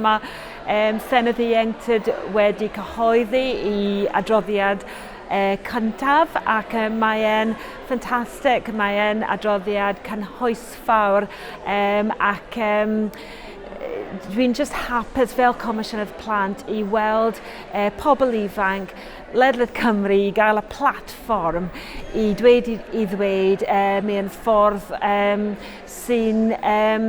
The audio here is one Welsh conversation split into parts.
Mae um, Senedd Ieuenctid wedi cyhoeddi i adroddiad uh, cyntaf ac uh, mae'n ffantastig, mae'n adroddiad cynhwysfawr um, ac um, dwi'n just hapus fel Comisiynydd Plant i weld eh, pobl ifanc ledled Cymru i gael y platfform i dweud i, i ddweud eh, mewn ffordd eh, sy'n eh,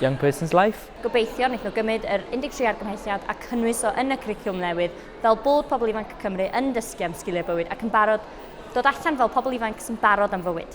Young Person's Life. Gobeithio wnaethon nhw gymryd yr 13 argymhelliad a cynnwys o yn y cwricwlwm newydd fel bod pobl ifanc Cymru yn dysgu am sgiliau bywyd ac yn barod dod allan fel pobl ifanc sy'n barod am fywyd.